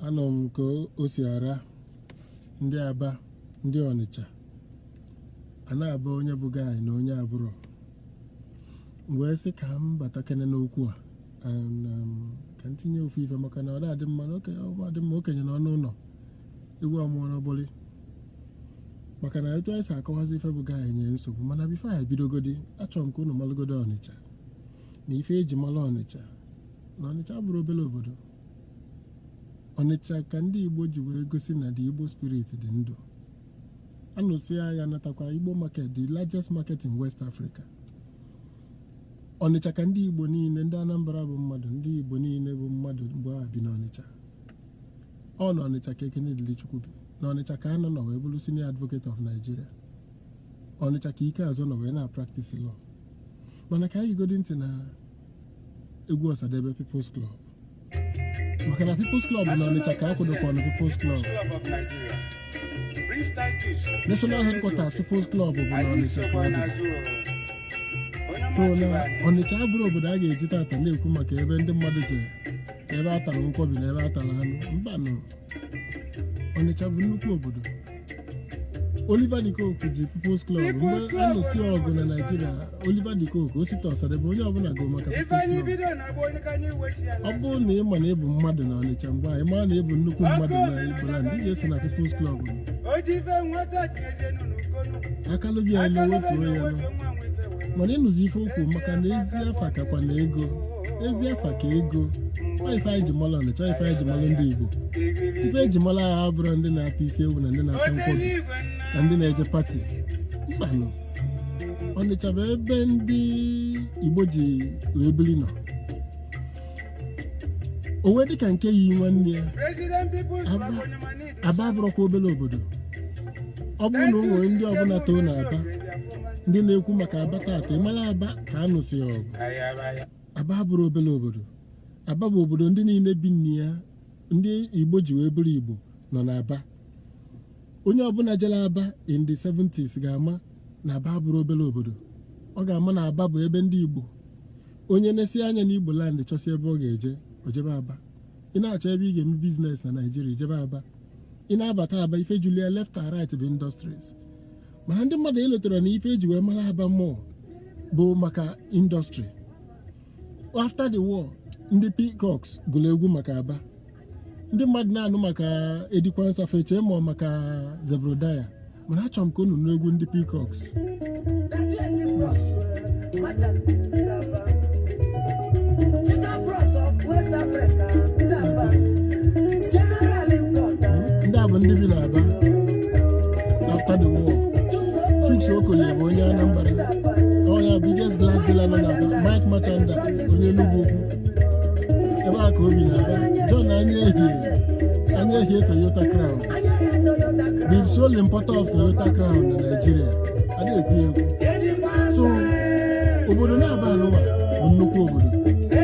anọ m ka o si ara ndị aba ndị ọnịcha a na-aba onye bụ gịnị na onye abụrọ wee sị ka m batakene n'okwu a and, um, ka m tinye ofu ife maka na ọ na-adị mma na oke- ọ na-adị mma okenye nọ n'ụnọ ewu amụọ n'ọgbụlị maka na etu anyị si akọwazi ife bụ gaghị enye nsogbu mana bifo anyị bidogodi achọrọ m ka unu malụgodo ọnịcha na ife eji malụ ọnịcha na ọnịcha abụrọ obere obodo ọnịcha ka ndị igbo ji wee gosi na the igbo spirit dị ndụ a nụsịa agha natakwa igbo market the largest market in west africa ọnịcha ka ndị igbo niile ndị anambra bụ mmadụ ndị igbo niile bụ mmadụ mgbe a bi n'ọnịcha ọ na Ọnịcha ka Ekene Dilichukwu bi na Ọnịcha ka Anah nọ wee bụrụ senior advocate of Nigeria Ọnịcha ka Ikeazor nọ wee na-practice law mana ka anyị gegodi ntị na egwu Ọsadebe People's Club maka na People's Club na Ọnịcha ka akwadokwa ọnụ People's Club National Headquarters People's Club bụ na Ọnịcha ka ọ dị so na Ọnịcha abụrọ obodo a ga-eji tata na-ekwu maka ebe ndị mmadụ jere ebe a tara nkwobi na ebe a tara anụ mbanụ ọnịcha bụ nnukwu obodo Oliver de Coque ji People's Club mgbe a nụsị ọgụ na Naịjirịa Oliver de Coque Osita Ọsadebe onye ọbụla gụ maka People's Club ọ bụrụ na ị ma na ị bụ mmadụ na Ọnịcha mgbe a ị mara na ị bụ nnukwu mmadụ na Igboland ị ga-eso na People's Club akalụ ụbịam ọ naa otu onye nọ mana ị nụzi ife o kwu maka na ezi afa kakwanụ ego ezi afa ka ego ọ ife anyị ji mara ọnịcha ife anyị ji mara ndị igbo ife eji mara ha abụrọ ndị na-ata isi ewu na ndị na-ata nkwọbi na ndị na-eje pati mbanụ ọnịcha bụ ebe ndị igbo ji wee biri nọ o wee dịka nke yi nwanne ya President people Aba. aba abụrọkwa obere obodo ọ bụrụ na o nwere ndị ọbụla too na aba ndị na-ekwu maka aba tata ị mara aba ka a nụsịa ọgụ aba abụrọ obere obodo aba bụ obodo ndị niile bi na ya ndị igbo ji wee bụrụ igbo nọ na aba onye ọbụla jere aba in the 70s ga-ama na aba abụrọ obere obodo ọ ga-ama na aba bụ ebe ndị igbo onye nesịa anya n'igbo land chọsịa ebe ọ ga-eje o jebe aba ị na-achọ ebe ị ga-eme business na naijiria jebe aba ị na-abata aba ife julu ya left and right bụ industries mana ndị mmadụ elotarọ na ife eji wee mara aba mbụ bụ maka industry after the war ndị peacocks gụrụ egwu maka aba ndị mmadụ na-anụ maka eddie quansa fa eche na ọ maka zebrudaya mana achọrọ m ka unu nụ egwu ndị Peacocks ndị a bụ ndị bi n'Aba after the war Chuks Okolie bụ onye Anambra ọ ya biggest glass dealer nọ n'Aba Mike Merchandise onye Enugwu Ukwu ebe a ka o bi n'Aba John Anyaehie Anyaehie Toyota Crown the sole importer of Toyota Crown na Nigeria a na-ekwu ekwu so obodo n'Aba anụwa bụ nnukwu obodo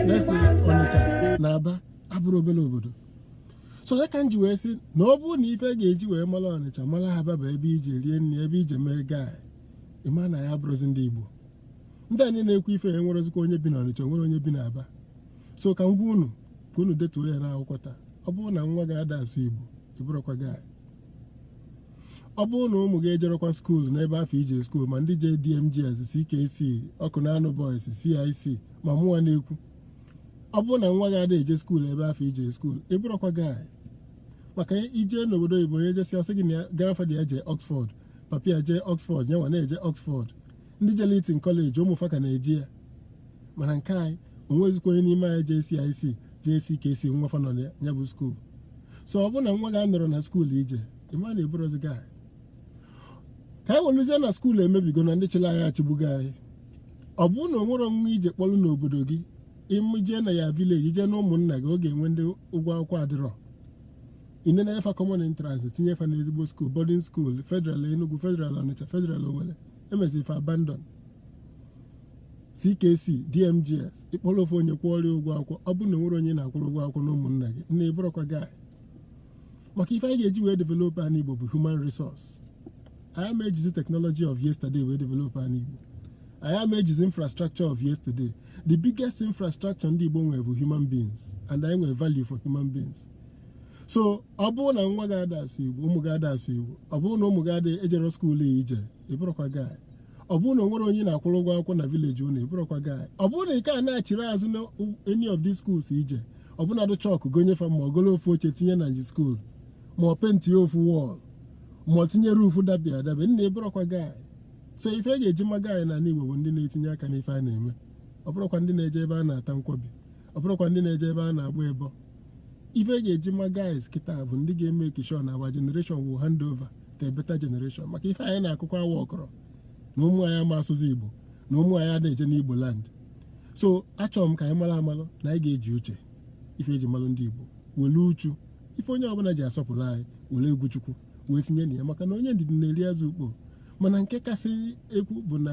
na-esi Ọnịcha na Aba abụrọ obere obodo so ya ka m ji wee sị na ọ bụrụ na ife e ga-eji wee mara Ọnịcha mara Aba bụ ebe i je rie nri ebe i je mee gaa ịma na ya abụrọzi ndị Igbo ndị anyị na-ekwu ife ya enwerọzikwa onye bi na Ọnịcha o nwerọ onye bi na Aba so ka m gwa unu ka unu detuo ya n'akwụkwọ taa ọ bụrụ na nwa gị ada asụ Igbo ị bụrọkwa ọga anyị ọ bụrụ na ụmụ gị ejerọkwa skuul n'ebe afụ i je skuul ma ndị je DMGS CKC Awkunanaw Boys CIC ma mụnwa na-ekwu ọ bụrụ na nwa gị ada eje skuul ebe afụ i je skuul ị bụrọkwa ọga anyị maka i je n'obodo oyibo onye jesịa sị gị na ya- grandfather ya jee Oxford papa ya jee Oxford nyanwa na-eje Oxford ndị jere Eton College ụmụ fa ka na-eje ya mana nke anyị o nwezikwa onye n'ime anyị je CIC je CKC nwa fa nọ na ya bụ skuul so ọ bụrụ na nwa gị anọrọ na skuul i je ị ma na ị bụrọzi ọga anyị ka anyị weluzie na skuul emebigo na ndị chịrị anyị achịgbugo anyị ọ bụrụ na o nwerọ onye i je kpọrọ n'obodo gị ịmụjee na ya vileji jee na ụmụnna gị ọ ga-enwe ndị ụgwọ akwụkwọ adịrọ ine na efa common entrance tinye fa n'ezigbo skuul boarding skuul federal Enugu federal Ọnịcha federal Owerri emesịrị fa abandon CKC DMGS ị kpọrọ ofu onye kwụọrọ ya ụgwọ akwụkwọ ọ bụrụ na enwerọ onye ị na-akwụrụ ụgwọ akwụkwọ na ụmụnna gị nna ị bụrọkwa ọga maka ife anyị ga-eji wee develop anị Igbo bụ human resource anyị ama ejizi technology of yesterday wee develop anị Igbo anyị ama ejizi infrastructure of yesterday the biggest infrastructure ndị Igbo nwere bụ human beings and anyị nwere value for human beings so ọ bụrụ na nwa gị ada asụ igbo ụmụ gị ada asụ igbo ọ bụrụ na ụmụ gị ada eje skuulu i je ị bụrọkwa ọga anyị ọ bụrụ na o nwerọ onye ị na-akwụrụ ụgwọ akwụkwọ na vileji unu ị bụrọkwa ọga anyị ọ bụrụ na ị ka anachirọ azụ na any of these schools i je ọ bụnadụ chalk gonye fa ma ọ golu ofu oche tinye na nji skuulu ma ọ paint ofu wall ma ọ tinye roof dabi adabi nna ị bụrọkwa ọga anyị so ife e ga-eji ma ọga anyị n'ala Igbo bụ ndị na-etinye aka n'ife a na-eme ọ bụrọkwa ndị na-eje ebe a na-ata nkwobi ọ bụrụkwa ndị na-eje ebe a na-agba ịbọ ife e ga-eji ma guys kịta bụ ndị ga-emake sure na our generation will hand over to a better generation maka ife anyị na-akụkọ awa ọkọrọ na ụmụ anyị ama asụzi igbo na ụmụ anyị a na-eje n'igbo land so achọrọ m ka anyị mara amalụ na anyị ga-eji uche ife e ji malụ ndị igbo were uchu ife onye ọbụla ji asọpụrụ anyị were egwu chukwu wee tinye na ya maka na onye ndidi na-eri azụ ukpo mana nke kasị ukwu bụ na